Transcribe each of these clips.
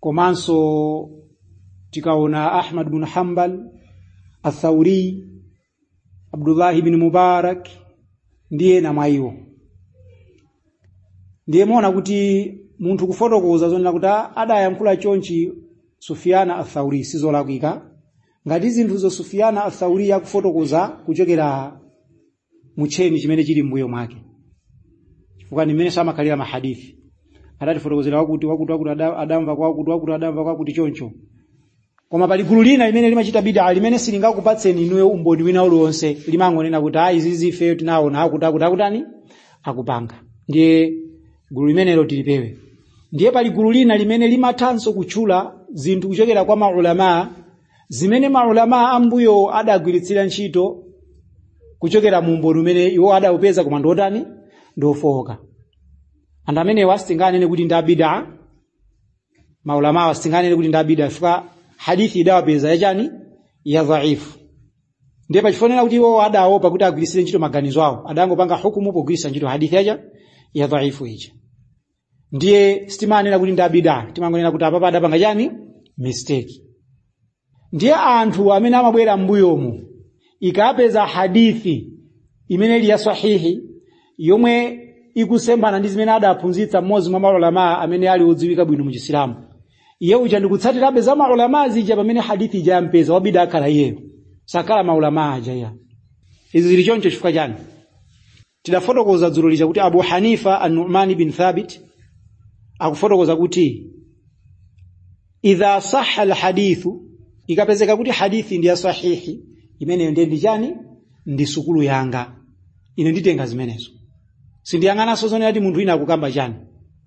komanso tikaona ahmad bnu hambal athauri, abdullahi bni mubarak ndi ena mwa iwo ndiye muona kuti munthu kufotokoza zonena kuti adayankhula chonchi sufiyana athauri sizolakwika ngati zinthuzo sufiyana athauri akufotokoza kuchokera mutcheni chimene chili mbuyo mwake chifukwa ndi mmene amakhalira mahadithi adatifotokozera wakuti wakuti wakuti ada- adamva kwa wakuti wakuti adamva kwa wakuti choncho koma pali gulu lina limene limachita bid'a limene silingakupatseni inuyo umboni wina uliwonse limangonena kuti ayi izizi ifeyo tinaona akuti akuti akutani akupanga ndiye gulu limenelo tilipewe ndiye pali gulu lina limene limathanso kutchula zinthu kuchokera kwa maulamaa zimene maulama ambuyo adagwiritsira ntchito kuchokera mu umboni umene iwo adaupeza koma ndi otani ndi ofowoka anthu amenewa sitinganene kuti ndi abida maulamawa sitinganene kuti ndi abida chifukwa hadithi idawapeza yachani ya dhaifu ndiye pachifukwa kuti iwo adaopa kuti agwiritsire ntchito maganizo awo adangopanga hukumu pogwiritsa ntchito hadithi yaja ya dhaifu ija ndiye sitimanena kuti ndi abida timangonena kuti apapa adapanga chani mistake ndiye anthu amene amabwera m'mbuyomu ikapeza hadithi imene ili ya sahihi yomwe ikusemphana ndi zimene adaphunzitsa mmodzi mwa maulama amene ali odziwika bwino mu chisilamu iye uja ndikutsatirabe za maulama zija pamene hadithi ija yampeza wabida akhala iyeyo sakhala maulama aja ayi izi zili choncho chifukwa chani tidafotokoza dzulo lija kuti abu hanifa an-nu'man bin thabit akufotokoza kuti idha sahha al-hadithu ikapezeka kuti hadithi ndi ya sahihi imeneyo ndiye ndi chani ndi sukulu yanga ine nditenga zimenezo sindiyang'ananso zonena kuti munthu wina akukamba chani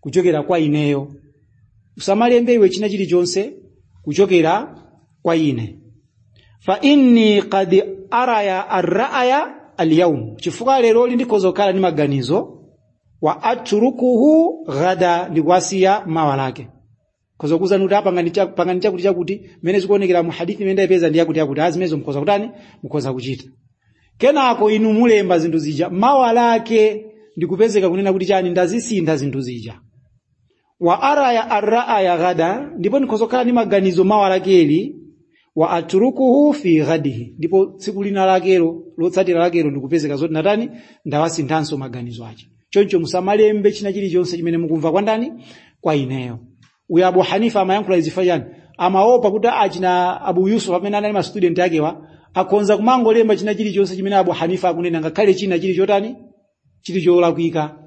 kuchokera kwa ineyo usamalembe iwe china chilichonse kuchokera kwa ine fa inni qad araya arraya alyawm chifukwa leroli ndikhoza kukhala ndi maganizo wa atrukuhu ghada ndikuwasiya mawa lake khoza kuuzani kuti apangani cha- pangani chakuti chakuti mmene zikuonekera mu hadithi imene ndayipeza ndi yakuti yakuti zimenezo mukhoza kutani mukhoza kuchita kenako inu mulemba zinthu zija mawa lake ndikupezeka kunena kuti chani ndazisintha zinthu zija wa araya arraaya ghada ndipo ndikhoza kukhala ndi maganizo mawa lakeli wa atrukuhu fi ghadihi ndipo tsiku lina lakelo lotsatira lakelo ndikupezeka zoti ndatani ndawasinthanso maganizo aja choncho musamalembe china chilichonse chimene mukumva kwa ndani kwa ineyo uyu abu hanifa amayankhula izi chifukwa chani amaopa kuti achina abu yusuf amene anali mastudenti akewa akhonza kumangolemba china chilichonse chimene abu hanifa akunena ngakhale china chili chotani chili cholakwika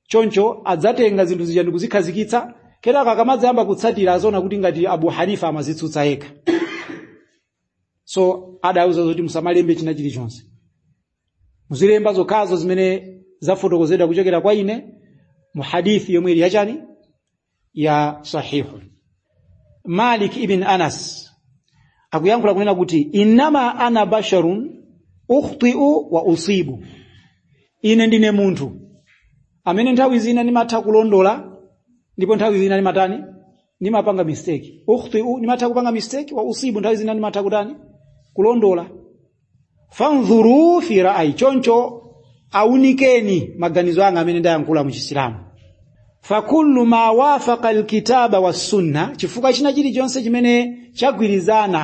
choncho adzatenga zinthu zija ndikuzikhazikitsa kenako akamadzayamba kutsatira aziona kuti ngati abu hanifa amazitsutsa yekha so adauza zoti musamalembe china chilichonse muzilemba zokhazo zimene zafotokozedwa kuchokera kwa ine mu hadithi yomwe ili yachani ya sahihu malik ibn anas akuyankhula kunena kuti innama ana basharun ukhtiu wa usibu ine ndine munthu amene nthawi zina ndimatha kulondola ndipo nthawi zina ndimatani ndimapanga mistake ukhtiu ndimatha kupanga mistake wa usibu nthawi zina ndimatha kutani kulondola fandhuru fi ra'ayi choncho aunikeni maganizo anga amene ndayankhula mu chisilamu fakullu ma wafaqa alkitaba wassunna chifukwa china chilichonse chimene chagwirizana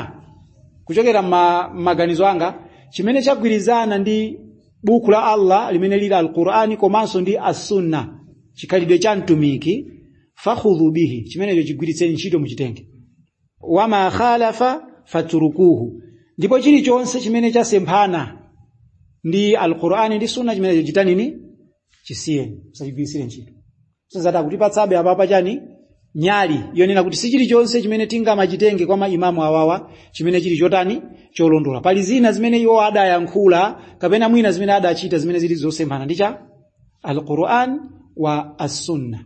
kuchokera m'maganizo anga chimene chagwirizana ndi buku la allah limene lili alqur'ani komanso ndi assunna chikhalidwe cha mtumiki fakhudhu bihi chimenecho chigwiritseni ntchito muchitenge wama khalafa faturukuhu ndipo chilichonse chimene chasemphana ndi alqur'ani ndi sunna chimenecho chitanini chisiyeni musachigwiritsire ntchito so zatha kutipatsabe apa chani nyali yonena kuti si chilichonse chimene tingamachitenge kwa maimamu awawa chimene chili chotani cholondola pali zina zimene iwo adayankhula kapena mwina zimene adachita zimene zili zosemphana ndi cha alquran wa assunna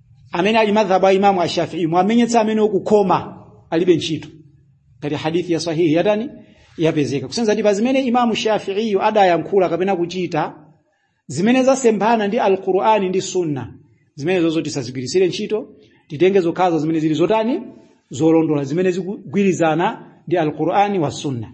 amene ali madhhabu a imamu ashafii muwamenyetse amenewo kukhoma alibe ntchito ngati hadithi ya sahihi yatani yapezeka kusonyeza kuti pa zimene imamu shafiiyo adayankhula kapena kuchita zimene zasemphana ndi alqur'ani ndi sunna zimenezozo tisazigwiritsire ntchito titenge zokhazo zimene zili zotani zolondola zimene zikugwirizana ndi alqur'ani wa sunna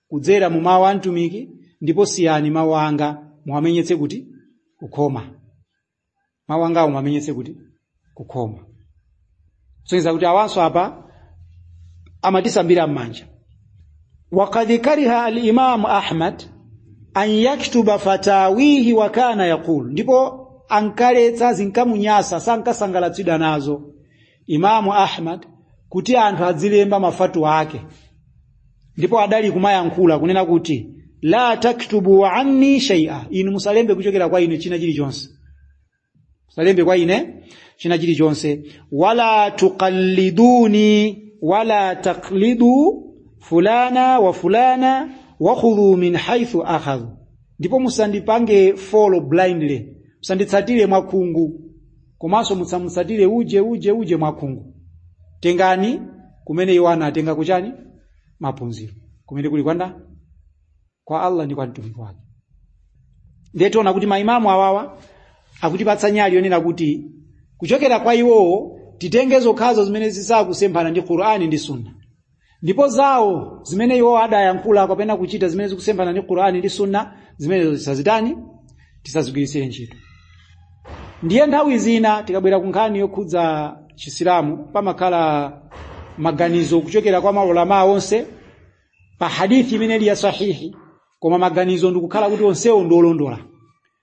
kudzera mu mawu a mtumiki ndipo siyani mawu anga muwamenyetse kuti kukhoma mawu angawo muwamenyetse kuti kukhoma kusonyeza kuti awanso apa amatisambira m'manja waqad kariha alimamu ahmad an yaktuba fatawihi wa kana yaqul ndipo ankaletsa zinkamunyasa sankasangalatsidwa nazo imamu ahmad kuti anthu adzilemba mafatwa ake ndipo adali kumayankhula kunena kuti la taktubu anni shay'a inu musalembe kuchokera kwa ine china chilichonse musalembe kwa ine china chilichonse wala tuqalliduni wala tuqallidu fulana wa fulana wakhudhu min haithu akhadhu ndipo musandipange follow blindly musanditsatire mwakhungu komanso musamutsatire uje uje uje mwakhungu tengani kumene iwo anatenga kuchani maphunziro kumene kuli kwanda kwa allah ndi kwa mtumiki wake ndiye tiona kuti maimamu awawa akutipatsa nyali yonena kuti kuchokera kwa iwowo titenge zokhazo zimene sizikusemphana ndi qur'ani ndi sunna ndipo zawo zimene iwo adayankhula kapena kuchita zimene zikusemphana ndi qur'ani ndi sunna zimenezo tisazitani tisazigwiritsire ntchito ndiye nthawi zina tikabwera ku nkhani yokhudza chisilamu pamakhala maganizo kuchokera kwa maulama onse pa hadithi imene ili ya sahihi koma maganizo ndikukhala kuti onsewo ndiolondola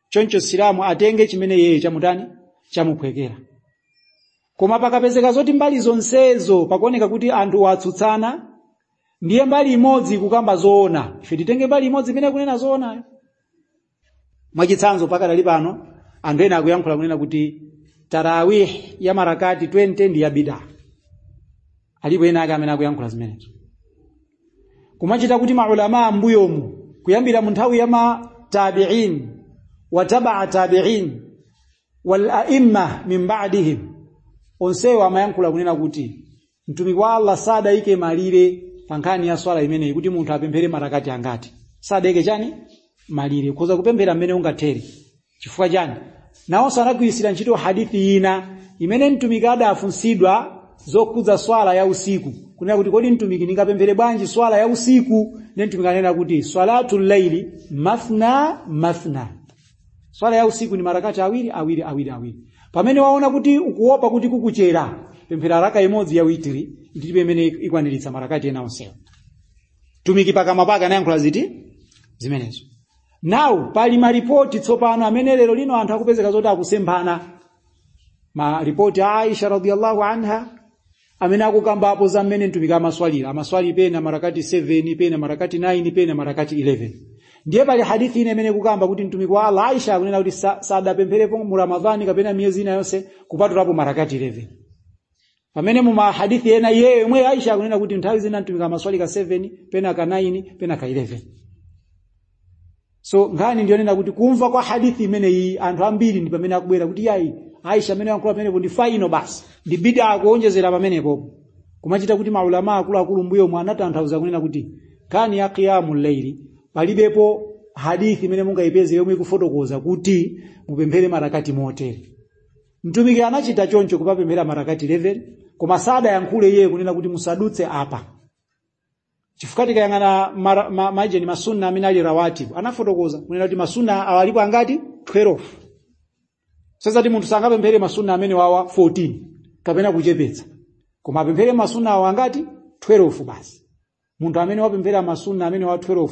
choncho msilamu atenge chimene yeye chamutani chamuphwekera koma pakapezeka zoti mbali zonsezo pakuoneka kuti anthu atsutsana ndiye mbali imodzi ikukamba zoona ife titenge mbali imodzi imene ikunena zoonayo mwachitsanzo pakadali pano anthu ena akuyankhula kunena kuti tarawih ya marakati 20 ndi ya bida alipo ena ake amene akuyankhula zimenezo kumachita kuti maulama ambuyomu kuyambira mu nthawi ya matabiin wa tabaa tabiin wal aimma min ba'dihim onsewo amayankhula kunena kuti mtumiki wa allah sadaike malire pa nkhani ya swala imeneyi kuti munthu apemphere marakati angati sadaike chani malire ukhoza kupemphera mmene ungathere chifukwa chani nawonso anagwiritsira ntchito hadithi ina imene mtumiki adafunsidwa zokhudza swala ya usiku kunena kuti kodi mtumiki ndingapemphere bwanji swala ya usiku ne mtumiki anena kuti swalatu llaili mathna mathna swala ya usiku ni marakati awiri awiri awiri awiri pamene waona kuti ukuopa kuti kukuchera pemphera raka imodzi ya witiri ndi imene ikwaniritsa marakati ena onsewo mtumiki pakamwa pake anayankhula ziti zimenezo now pali maripoti tsopano amene lero lino anthu akupezeka zoti akusemphana maripoti a aisha radiyallahu anha amene akukambapo za mmene mtumiki amaswalira amaswali pena marakati 7 pena marakati 9 pena marakati 11 ndiye pali hadithi ina imene ikukamba kuti mtumiki wa Allah Aisha akunena kuti sadapempherepo mu Ramadhani kapena miyezi ina yonse kupatulapo marakati 11 pamene mu mahadithi ena iyeyo yemwe aisha akunena kuti nthawi zina mtumiki amaswali ka 7 pena ka 9 pena ka 11 so nkhani ndiyonena kuti kumva kwa hadithi imeneyi anthu ambiri ndi pamene akubwera kuti yayi aisha amene wayankhula pamenepo ndi final basi ndi bida kuonjezera pamenepo kumachita kuti maulama akuluakulu mbuyomwa anatanthauza kunena kuti nkhani ya qiyamu leili palibepo hadithi imene mungayipeze yomwe ikufotokoza kuti mupemphere marakati motere mtumiki anachita choncho kupapemphera marakati 11 koma sadayankhule iye kunena kuti musadutse apa chifukwa tikayang'ana mara- ma- majeni masunna amene ali rawatibu anafotokoza kunena kuti masunna awa alipo angati 12 sazati munthu sangapemphere masunna amenewawa 14 kapena kuchepetsa koma apemphere masunna awa angati 12 basi munthu amene wapemphera masunna amenewa 12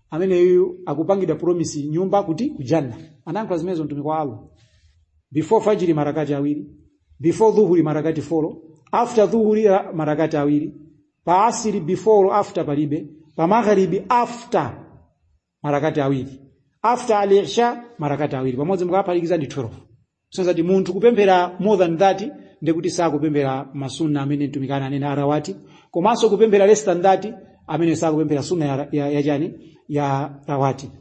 ameneyuyu akupangidwa promise nyumba kuti ku janna anayankhula zimenezo mtumiki wa Allah before fajiri marakati awiri before dhuhuri marakati folo after dhuhuri ra- marakati awiri pa asiri before or after palibe pa magharibi after marakati awiri after al-isha marakati awiri pamodzi mukaphatikiza ndi 12 so zati munthu kupemphera more than that nde kuti sakupemphera masunna amene mtumiki ananena arawati komanso kupemphera less than that amene sakupemphera sunna ya, ya, ya chani ya rawati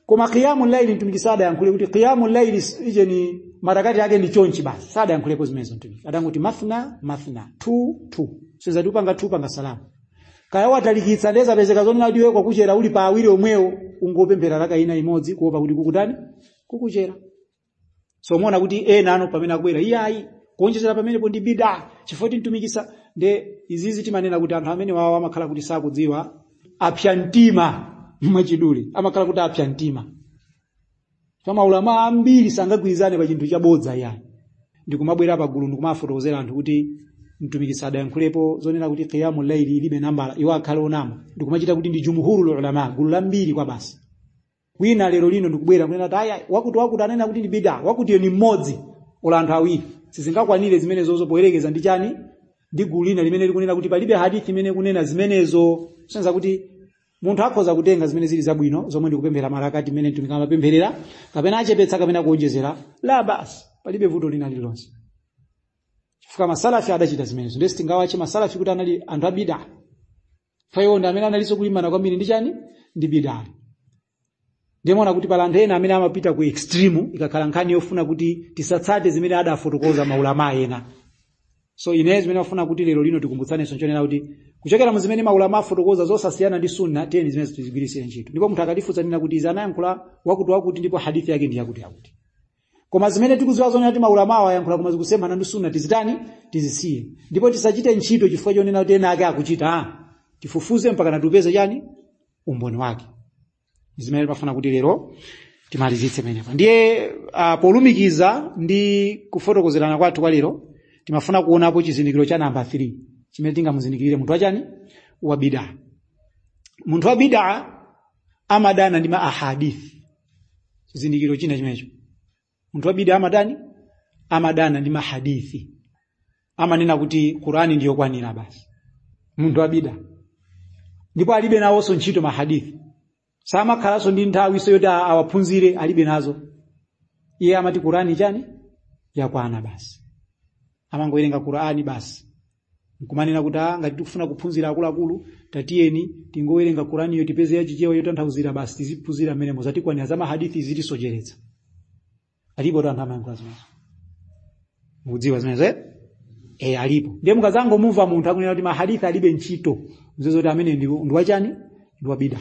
koma qiyamul layli mtumiki sadayankhule kuti qiyamul layli ija ni marakati yake ni chonchi basi sadayankhulepo zimenezo mtumiki adangoti mathna mathna 2 2 sizati upanga 2 panga salamu kaya watalikitsa ndiye zapezeka zonena kuti iwe kwakuchera uli pa awiri omwewo ungopemphera raka ina imodzi kuopa kuti kukutani kukuchera so muona kuti ena ano pamene akubwera iyayi kuonjezera pamenepo ndi bida chifukwa choti mtumiki sa nde izizi timanena kuti anthu amenewawo amakhala kuti sakudziwa apsa mtima mwachidule amakhala kuti apsa mtima chifukwa maulama ambiri sangagwirizane pa chinthu chabodza yani ndikumabwera pagulu ndikumafotokozera anthu kuti mtumiki sadayankhulepo zonena kuti qiyamu laili ilibe nambala iwo akhale onama ndikumachitcha kuti ndi jumhurul ulama gulu lambiri kwabasi wina lero lino ndikubwera kunena kuti aya wakuti wakuti anena kuti ndi bida wakutiyo ni mmodzi olo anthu awiri sizingakwanire zimenezozo poyerekeza ndi chani ndi gulu lina limene likunena kuti palibe hadithi imene ikunena zimenezo kusonyeza kuti munthu akhoza kutenga zimene zili zabwino zomwe ndikupemphera marakati mmene mtumiki amapempherera kapena achepetsa kapena kuonjezera la basi palibe vuto lina lililonse chifukwa masalafi adachita zimenezo ndiye sitingawatche masalafi kuti anali anthu abida chifukwa iwo ndi amene analinso kulimbana kwambiri ndi chani ndi bida ndiye mwaona kuti pali anthu ena amene amapita ku extreme ikakhala nkhani yofuna kuti tisatsate zimene adafotokoza maulama ena so ine zimene ndafuna kuti lero lino tikumbutsanenso nchonena kuti kuchokera mu zimene maulama afotokoza zosasiyana ndi sunna tiyeni zimenezo tizigwiritsire ntchito ndipo munthu akatifunsa nena kuti izi anayankhula wakuti wakuti ndipo hadithi yake ndi yakuti yakuti koma zimene tikuziwa zonena kuti maulama awo ayankhula koma zikusemphana ndi sunna tizitani tizisiye ndipo tisachite ntchito chifukwa chonena kuti enaake akuchita ah. tifufuze mpakana tiupeze chani umboni wake ni zimene timafuna kuti lero timalizitse pamenepa ndiye uh, polumikiza ndi kufotokozerana kwathu kwa lero timafuna kuonapo chizindikiro cha namba 3 chimene tingamuzindikirire munthu wachani wa bidaa munthu wa bidaa amadana ndi ma ahadithi chizindikiro china chimenecho munthu wa bidaa amadani amadana ndi mahadithi amanena kuti qurani ndi yokwanira basi munthu wa bidaa ndipo alibe nawonso ntchito mahadithi samakhalanso ndi nthawiso yoti awaphunzire alibe nazo iye amati qurani chani yakwana basi amangowerenga qurani basi nkumanena kuti ah ngati tikufuna kuphunzira akuluakulu tatiyeni tingowerenga kuraniyo tipeze yachichewa yotanthauzira basi tiziphunzira mmenemo zatikwanira za mahadithi zitisocheretsa alipo anthu amayankhula zimenezo mukudziwa zimenezo eh? e, alipo ndiye mukazangomumva munthu akunena kuti mahadithi alibe ntchito mziziwa zoti amene ndi wachani ndi wa bidaa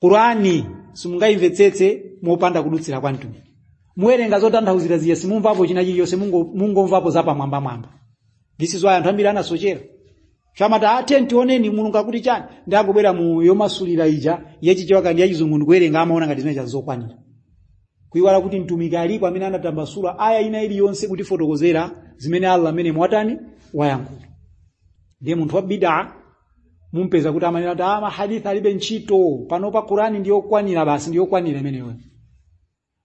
qurani simungayimvetsetse mopanda kudutsira kwa mtumiki muwerenga zotanthauzira zija simumvapo china chilichonse mungo- mungomvapo zapamwambamwamba this is why anthu ambiri anasochera chifukwa amati tatiyeni tioneni mulungu akuti chani nde akubwera mu yomasulira ija yachichewa kaya ndi yachizungu ndikuwerenga amaona ngati zimenezija zokwanira kuiwala kuti mtumiki alipo amene anatambasula aya ina iliyonse kutifotokozera zimene allah amene mwatani wayankhula ndiye munthu wa bidaa mumpeza kuti amanena kuti mahadithi alibe ntchito panopa qurani ndiyokwanira basi ndiyokwanira imeneyo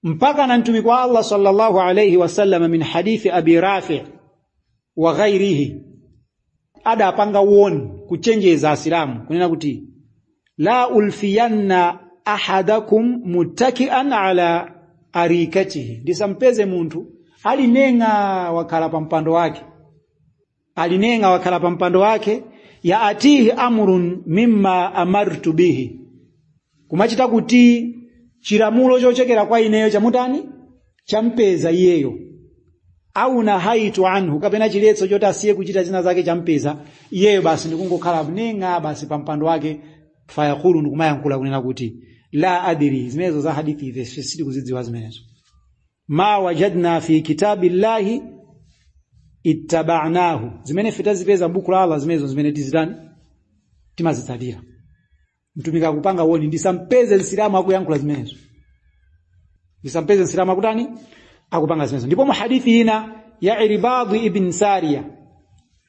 mpakana mtumiki wa allah sallallahu alayhi wasallam min hadithi abi rafi wa ghairihi adapanga woni kuchenjeza asilamu kunena kuti la ulfiyanna ahadakum muttakian ala arikatihi ndisampeze munthu ali nenga wakhala pa mpando wake alinenga wakhala pa mpando wake yaatihi amrun mimma amartu bihi kumachita kuti chilamulo chochokera kwa ineyo chamutani champeza iyeyo au nahaitu anhu kapena chiletso choti asiye kuchita zina zake champeza iyeyo basi ndikungokhala mnenga basi pa mpando wake fayaqulu ndikumayankhula kunena kuti la adiri zimenezo za hadithi izi sitikuzidziwa zimenezo ma wajadna fi kitabillahi ittaba'nahu zimene ife tazipeza m'buku la Allah zimenezo zimene tizitani timazitsatira mtumiki akupanga woni ndisampeze msilamu akuyankhula zimenezo ndisampeze msilamu akutani akupanga zimenezo ndipo mu hadithi ina ya Irbadhi ibn Sariya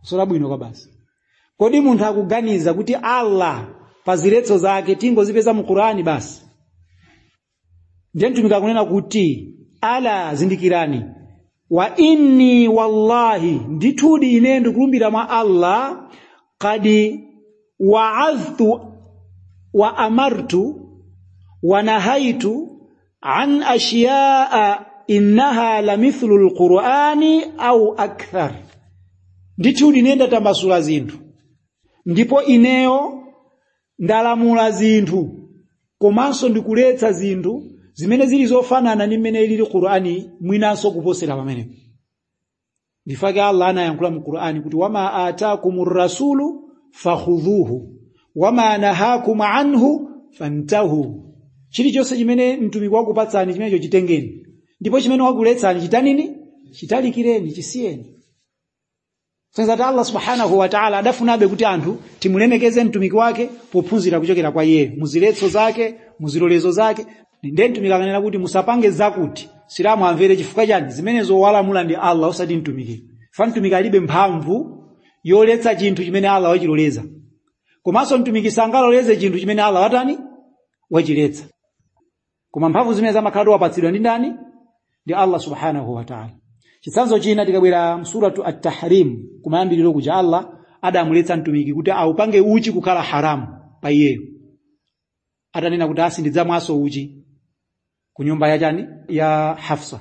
kusula bwino kwabasi kodi munthu akuganiza kuti allah pa ziletso zake tingozipeza mu qurani basi ndiye mtumiki akunena kuti ala zindikirani wa inni wallahi ndithudi ine ndikulumbira mwa allah kadi waadhtu wa amartu wa nahaitu an ashiyaa innaha lamithlu lqurani au akthar ndithudi ine ndatambasula zinthu ndipo ineyo ndalamula zinthu komanso ndikuletsa zinthu zimene zili zofanana ndi mmene ilili qurani mwinanso kuposera pamenepo ndifake allah anayankhula mu qur'ani kuti wama atakum rasulu fakhudhuhu wama nahakum anhu fantahu chilichonse chimene mtumiki wakupatsani chimenecho chitengeni ndipo chimene wakuletsani chitanini chitalikireni chisiyeni so that allah subhanahu wataala adafunabe kuti anthu timulemekeze mtumiki wake pophunzira kuchokera kwa iyeyo muziletso zake muzilolezo zake ndiye mtumiki akanena kuti musapange zakuti asilamu amvere chifukwa chani zimenezo walamula ndi allah osati mtumiki fa mtumiki alibe mphamvu yoletsa chinthu chimene allah wachiloleza komanso mtumiki sangaloleze chinthu chimene allah watani wachiletsa koma mphamvu zimenezo amakhala wapatsidwa ndi ndani ndi allah subhanahu wataala chitsanzo china tikabwera msuratu at-tahrim kumayambiriro kuja allah adamuletsa mtumiki kuti aupange uchi kukhala haramu pa iyeyo atanena kuti a sindidzamwaso uchi ku nyumba ya chani ya hafsa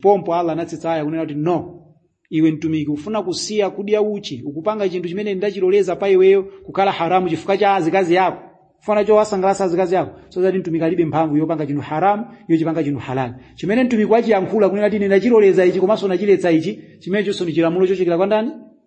pompo allah anatsitsa aya kunena kuti no iwe mtumiki ufuna kusiya kudya uchi ukupanga chinthu chimene ndachiloleza pa iweyo kukhala haramu chifukwa cha azikazi yako ufuna chowasangalatsa azikazi yako so that mtumiki alibe mphamvu yopanga chinthu haramu yochipanga chinthu halali chimene mtumiki wachiyankhula kunena kuti ndachiloleza ichi komanso ndachiletsa ichi chimenechonso ndi chilamulo chochokera kwa ndani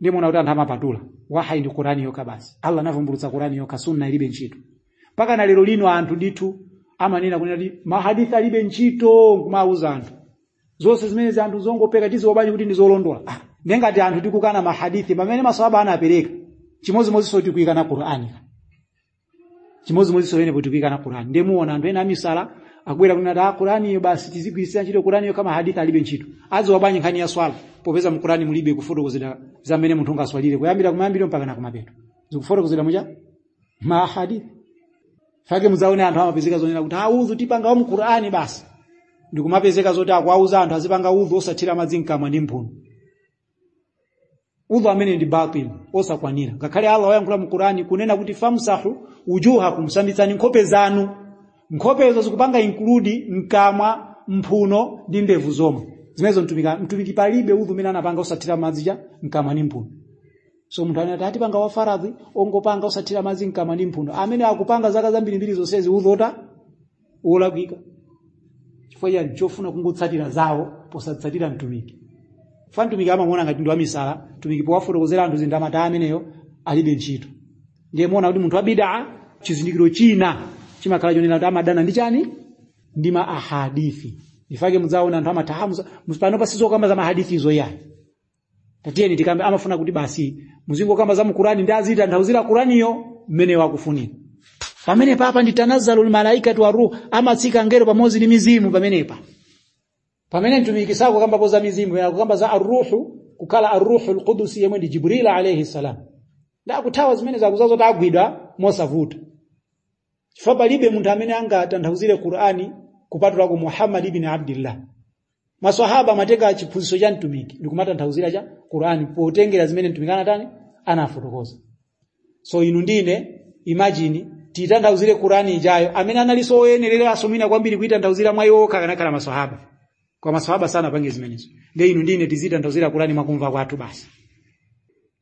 ndiye muona kuti anthu amapatula wahayi ndi kurani yokha basi allah anavumbulutsa kurani yokha sunna ilibe ntchito mpaka na lero lino anthu ndithu amanena kunena kuti mahadithi alibe ntchito nkumawuza anthu zonse zimenezi za anthu zongopeka tidziwa bwanji kuti ndi zolondola ah, ndiye ngati anthu tikukana mahadithi pamene maswahaba anapereka chimodzimodzinso tikuikana qurani chimodzimodzinso pamenepo tikuyikana kurani ndiye muona anthu ena amisala akubwera kunena kuti ah kuraniyo basi tizigwiritsira ntchito kuraniyo koma mahadith alibe ntchito adziwa bwanji nkhani ya swala popeza mu kurani mulibe kufotokozera za mmene munthu ungaswalire kuyambira kumayambiro mpaka na kumapeto zikufotokozera muja ma hadith fake mudzaone anthu amapezeka zonena kuti ah udhu tipanga wa mu kurani basi ndikumapezeka zoti akuwauza anthu azipanga udhu osathira madzi mkamwa ndi mphuno udhu amene ndi batil osakwanira ngakhale allah wayankhula mu qurani kunena kuti famsahu wujuhakum sambitsani nkhope zanu nkhopezo zikupanga include mkamwa mphuno ndi ndevu zomwe zimenezo mtumiki mtumiki palibe udhu umene anapanga osathira madzi cha mkamwa ndi mphuno so munthu anati atipanga wa faradhi ongopanga osathira madzi mkamwa ndi mphuno amene akupanga zaka zambirimbiri zonsezi udhu ota wolakwika chifukwa iwo akufuna kungotsatira zawo posatsatira mtumiki nchifukwa mtumiki amamuona ngati ndi wamisala mtumiki powafotokozera anthu zinthu amati iyayi ameneyo alibe ntchito ndiye muona kuti munthu wa bidaa chizindikiro china chimakhala chonena kuti amadana ndi chani ndi ma ahadithi nchifukwa chake mudzaona anthu amati amwene pano si zokamba za mahadithizo yayi tatiyeni tikambe amafuna kuti basi muzingokamba za mukurani ndiye azitanthauzira kuraniyo mmene akufunira pamene papa ndi tanazzalul malaikatu warruh amatsika angelo pamodzi ndi mizimu pamenepa pamene mtumiki sakukambapo za mizimu yayi akukamba za arruhu kukhala arruhul qudusi yemwe ndi jibril alaihi salam ndiye akuthawa zimene zakuzazo agwidwa mosavuta chifukwa palibe munthu amene angatanthauzire qurani kupatulako muhammad ibn abdillah maswahaba amatenga chiphunzitso cha mtumiki ndikumatanthauzira cha qurani potengera zimene mtumiki anatani anafotokoza so inu ndine imagine titanthauzire qurani ijayo amene analinso oyenerera asomi kwambiri kuitanthauzira mwa iwo okha akanakhala maswahaba koma maswahaba sanapange zimenezo nde inu ndine tizitanthauzira qurani mwakumva kwathu basi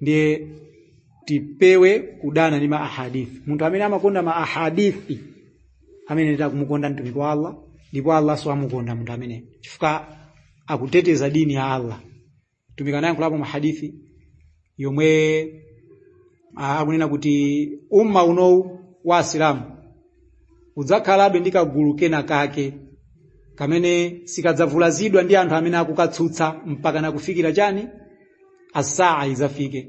ndiye tipewe kudana ndi maahadithi munthu amene amakonda maahadithi ameneyo akumukonda mtumiki wa allah ndipo allah nso amukonda munthu ameneyo chifukwa akuteteza dini ya allah mtumiki anayankhulapo mu hadithi yomwe ah, akunena kuti umma unowu wa asilamu udzakhalabe ndi kagulu kena kake kamene sikadzavulazidwa ndi anthu amene akukatsutsa mpaka nakufikira chani as-saa idzafike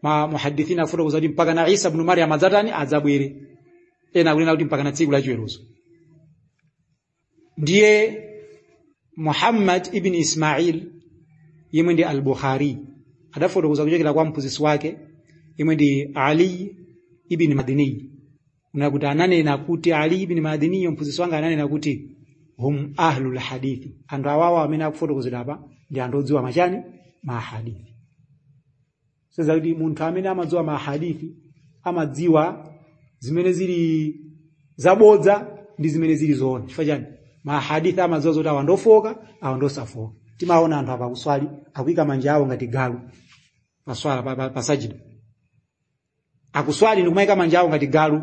ma muhadithina afotokoza kuti mpaka na isa bnu maryam adzatani adzabwere ena akunena kuti mpaka na tsiku la chiweruzo ndiye muhammad ibn ismail yemwe ndi al-bukhari adafotokoza kuchokera kwa mphunzitsi wake yemwe ndi ali ibn madini kunena kuti ananena kuti ali ibn madini mphunzitsi wanga ananena kuti hum ahlul hadithi anthu awawa amene akufotokozedwa apa ndi anthu odziwa machani mahadithi kusonyeza kuti munthu amene amadziwa mahadithi amadziwa zimene zili zabodza ndi zimene zili zoona chifukwa chani mahadithi amadziwa zoti awa ndofooka awa ndosafooka timaona anthu apa akuswali akuika manja awo ngati galu paswala pa, pa, pasajida akuswali ndikumaika manja awo ngati galu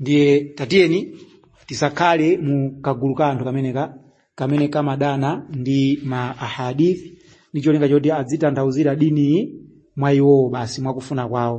ndiye tatiyeni tisakhale mu kagulu ka anthu kameneka kamene kamadana ndi ma ahadithi ndi cholinga choti adzitanthauzira diniyi mwa iwowo basi mwakufuna kwawo